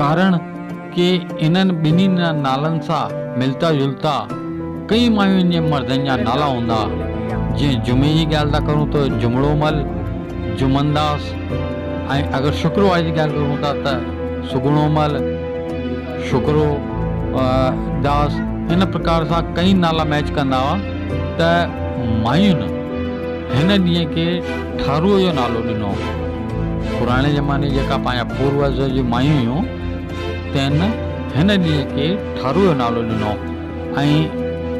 ڪارڻ ڪي انهن ٻنهي نالن سان ملتا جلتا ڪئين مايون جي مردن جا نالا هوندا. جيئن جمعي جي ڳالهه ٿا ڪرون ته جمڙو مل، جمن داس ۽ اگر شڪروار جي ڳالهه ڪرون ٿا ته سگهڻو مل، شڪرو داس ان پرڪار سان ڪئين نالا ميچ ڪندا هئا ته مايون هن ڏينهن کي ٺارو جو نالو ڏنو. پراڻي زماني جي جيڪا پنهنجا پوروج جون مايون هيون تنهن هن ڏينهن کي ٺارو جو نالو ڏنو ۽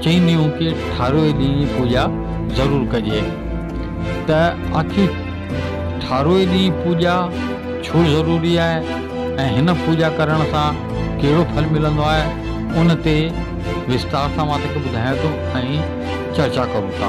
چينديون ڪي ٺارو جي ڏينهن جي پوڄا ضرور ڪجي ته آخر ٺارو جي ڏينهن پوڄا ڇو ضروري آهي ۽ هن پوڄا ڪرڻ سان ڪهڙو ڦل ملندو آهي ان تي وستار سان مان توکي ٻڌايان ٿو ۽ چرچا ڪرون ٿا.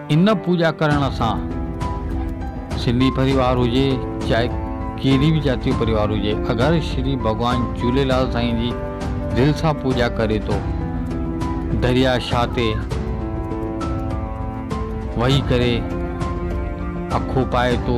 ان پوڄا ڪرڻ سان سنڌي پريوار هجي چاهي ڪهڙي به جاتي جو پريوار هجي اگر شري ڀڳوان جهوليلال سائين جي دل سان پوڄا ڪري ٿو دريا شاهه تي وهي ڪري اکو پائي ٿو